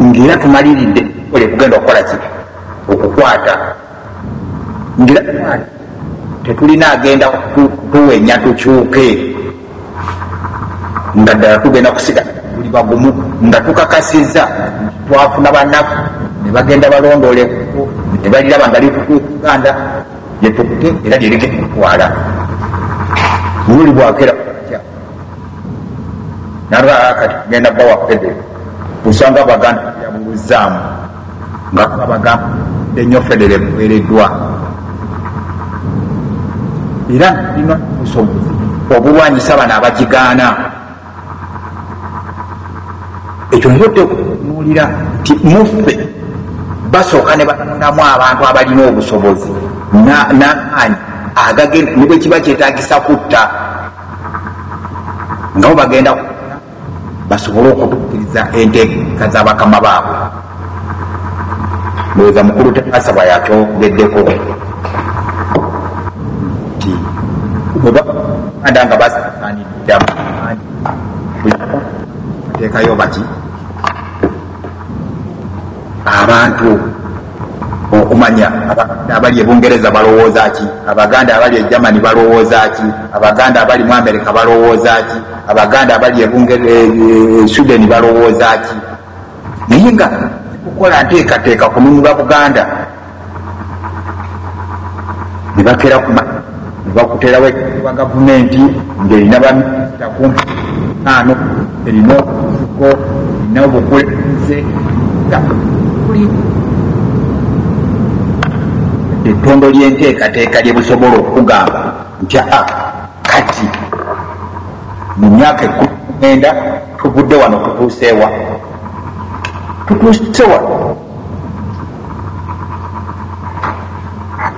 ngaera tumaliridde ole kugenda okukola ki okukwata ngira tukwata tetulina agenda tuwenya tukyuke nga ddala tugenda kusigala tuli bagumu nga tukakasiza twafuna banaku nebagenda balondole nebaliraba nga litukuuganda lyetukute era lyerigenda kutwala buli bwakera nalwaa kati kugenda bawa pede osanga baganda yabuluzaamu nga babagamba enyo federe eweereddwa era lina obusobozi obulwanyisa bano abagigaana ekyo nyo tekunuulira nti muffe basooka ne batondamu abantu abalina obusobozi namaanyi agagenda ne bwekiba kyetagisa kutta nabo bagenda basobole okutukiriza enteeka za bakama baabwe ndowooza mukulu tebasa bwayatyogeddeko nti bwebaganda nga basaaniddamuteekayo bati abantu okumanya abaganda abali e bungereza balowooza ki abaganda abali e germany balowooza ki abaganda abali mu amerika balowooza ki abaganda abali e, e, e sweden balowooza ki naye nga kukola nteekateeka kununula buganda ne bakera kuma bakuterawo ekiwa gavumenti ngaerina baminisita kumpi ano erina obufuko erina obukulembeze ettondo lyenteekateeka lyebusobola okugamba nti a kati mu myaka ekumenda tuvudde wano tutuuseewa tutuuse wano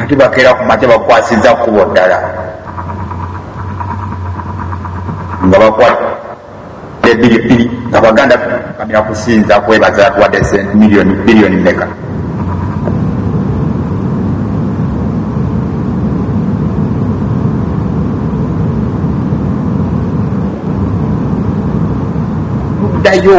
ate bakeera ku makya bakwasiza kkubo ddala nga bakwata ebiri bbiri nga baganda kamira kusinza kwebaza atuwadde sente miliyoni biliyoni meka ddayo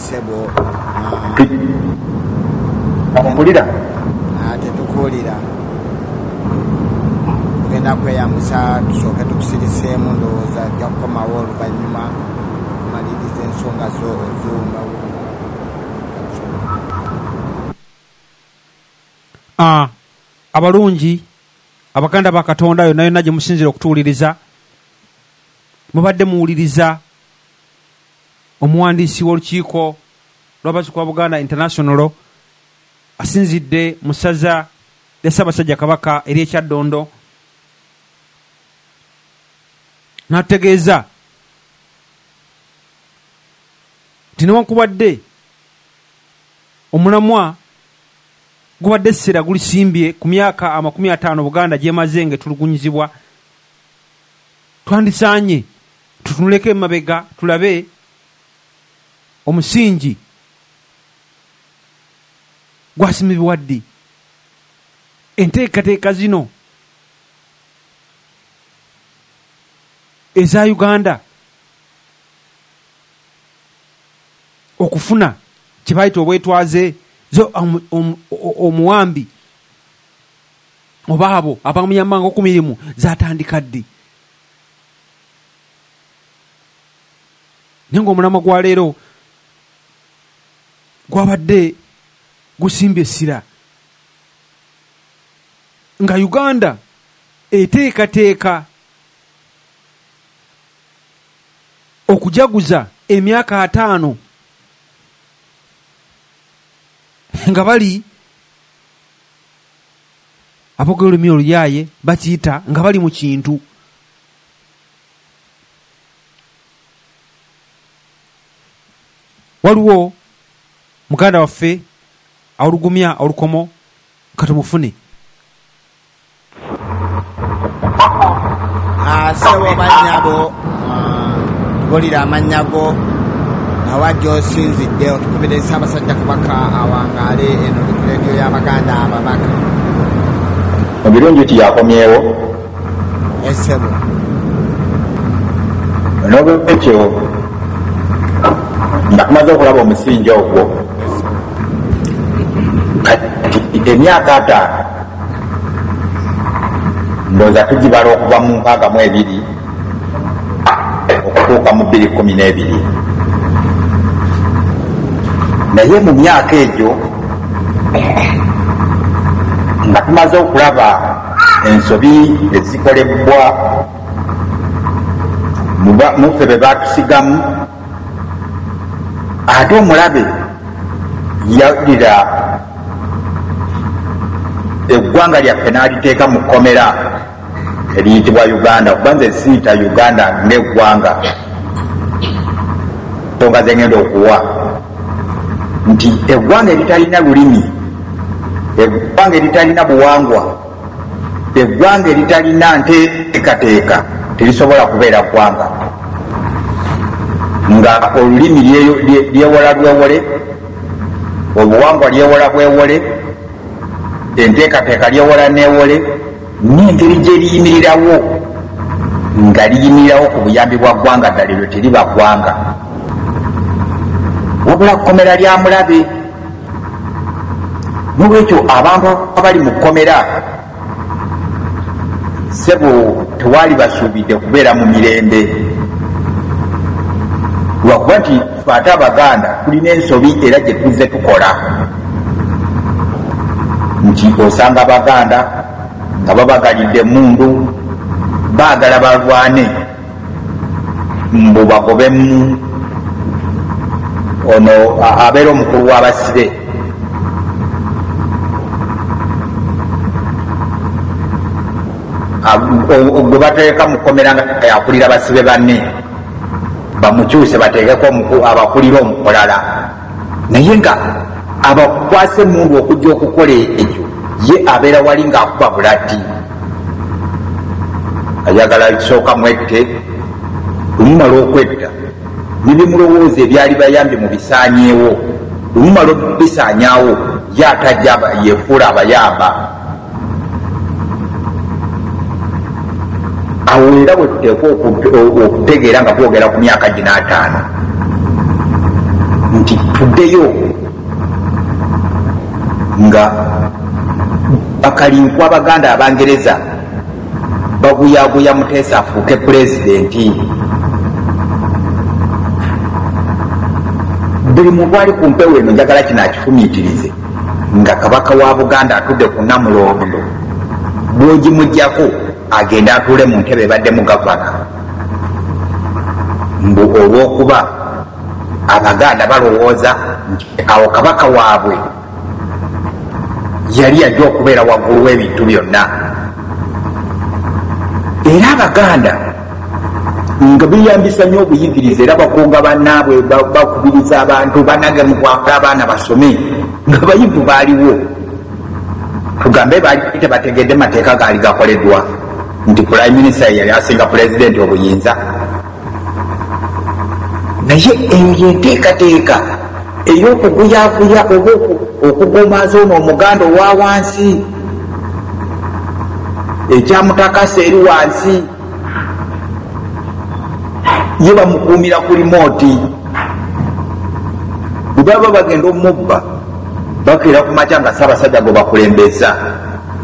okulira ah, tetukuwulira tugenda kweyambisa tusooke tukusiriseemu ndowooza ajja kukomawo oluvannyuma omaliriza ensonga zo oziwumbawo ah, abalungi abaganda ba katonda yonna yonna gye musinzira okutuwuliriza mubadde muwuliriza Omuwandiisi w'olukiiko lw'abazzukulu ba Buganda International asinzidde mu ssaza lya Ssaabasajja Kabaka ery'e Kyaddondo n'ategeeza nti newankubadde omulamwa gubadde essira gulisimbye ku myaka amakumi ataano Buganda gy'emaze ng'etulugunyizibwa, twandisaanye tutunuleko emabega tulabe omusingi gwasimibwa ddi enteekateeka zino eza uganda okufuna kyebayita obwetwaze omuwambi oba abo abamuyambanga okumirimu zatandika ddi naye ngaomulamwa gwa leero gwabadde gusimba essira nga uganda eteekateeka okujaguza emyaka ataano nga bali abogera olulimi oluyaaye bakiyita nga bali mu kintu waliwo muganda waffe awulugumya olukomo katumufune Ah, sebo banyabo ah, tubulira amannya go awa gyosinzidde otukubire ssabasajja kabaka awangaale eno likuleediyo y'abaganda ababaka mu birungi ti yakomyewo esebo eh, n'olwekyo nga tumaze okulaba omusinja ogwo kati emyaka ataano ndowooza tugibala okuva mu nkaaga mu ebiri okutuuka mu bbiri kumi n'ebiri naye mu myaka egyo nga tumaze okulaba ensobi ezikolebwa muffe be batusigamu ate omulabe yadira eggwanga lyaffe n'aliteeka mu kkomera eriyitibwa uganda kuba nze siyita uganda ngaeggwanga tonga zengenda okuwa nti eggwanga eritalina lulimi eggwanga eritalina buwangwa eggwanga eritalina nteekateeka terisobola kubeera ggwanga nga olulimi lyewola lwewole obuwangwa lyewola bwewole enteekateeka lyewola newole nengeri gyeriyimirirawo nga liyimirirawo ku buyambi bwa ggwanga ddala eryo teriba ggwanga wabula kkomera lya mulabe nolwekyo abantu abali mu kkomera sebo tewaali basuubidde kubeera mu mirembe lwakuba nti fe ate abaganda tulina ensobi era gye tuzze tukola nti osanga abaganda nga babagalidde emundu baagala balwane mbu bagobemu ono abeera omukulu w'abasibe gwe bateeka mukomera nga yakulira basibe banne bamukyuse bateekeko abakulira omukolala naye nga abakwasa emundu okujja okukola ekyo ye abeera wali ngaakuba bulati ayagala kisooka mwette omumala okwetta nebimulowooza ebyali bayambye mu bisaanyeewo omumala okubisaanyaawo ye atajja yefuula abayamba awo era wetuteekwa okutegeera nga twogera ku myaka gina ataano nti tuddeyo nga bakalinkwa abaganda abangereza baguyaguya muteesa afuuke pulezidenti buli muntu ali ku mpewo eno njagala kino akifumiitirize nga kabaka wa buganda atudde ku namulondo bwogimugjako agende atuule mu ntebe ebadde mu gavana mbu olwokuba abaganda balowooza nti awo kabaka waabwe yali yajja okubeera waggulu w'ebintu byonna era abaganda nga beyambisa nyo obuyigiriza era bakunga banaabwe bakubiriza abantu banage mukwakula abaana basome nga bayivu baaliwo tugambe baali tebategedde mateeka gaali gakoledwa nti prime minister yali asinga pulezidenti obuyinza naye eyo yenteekateeka ey'okuguyaguya oba okugumaza ono omuganda owa wansi ekyamutakasa eri wansi ye bamukuumira ku limooti bwebaba bagenda omubba bakeera ku makya nga saabasajja gwe bakulembeza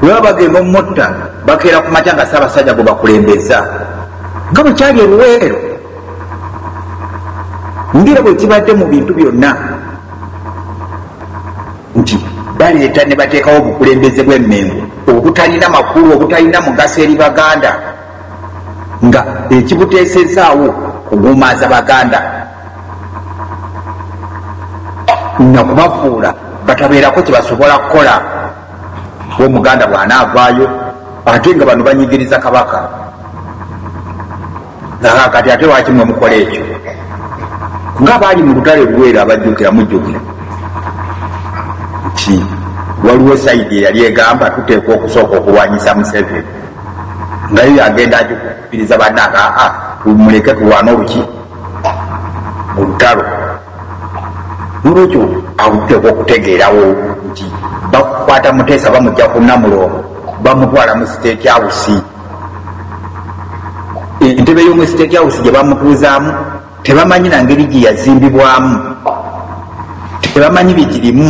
bwebaba bagenda omutta bakeera ku makya nga saabasajja gwe bakulembeza nga bwekyali eruweero ngira bwekibadde mu bintu byonna nti baleeta ne bateekawo obukulembeze bw'emmengo obutalina makulu obutalina mugaso eri baganda nga ekibuteesezaawo kuguumaaza baganda nakubafuula batabeerako kyebasobola kukola omuganda bw'anaavaayo ate nga bano banyigiriza kabaka kati ate lwaki mwe mukola ekyo nga baali mu lutale luweera abajjukira mujjukira nti waliwo saidi eyali egamba tuteekwa okusooka okulwanyisa museveni nga yo yagenda agikupiriza bananga aa tumuleke tulwana oluki mu lutalo nolwekyo akuteekwa okutegeerawo nti bakukwata muteesa bamujja kunamulongo bamutwala mu siteeti awusi entebe y'omu state house gye bamutuuzaamu tebamanyi na ngeri gye yazimbibwamu tebamanyi bigirimu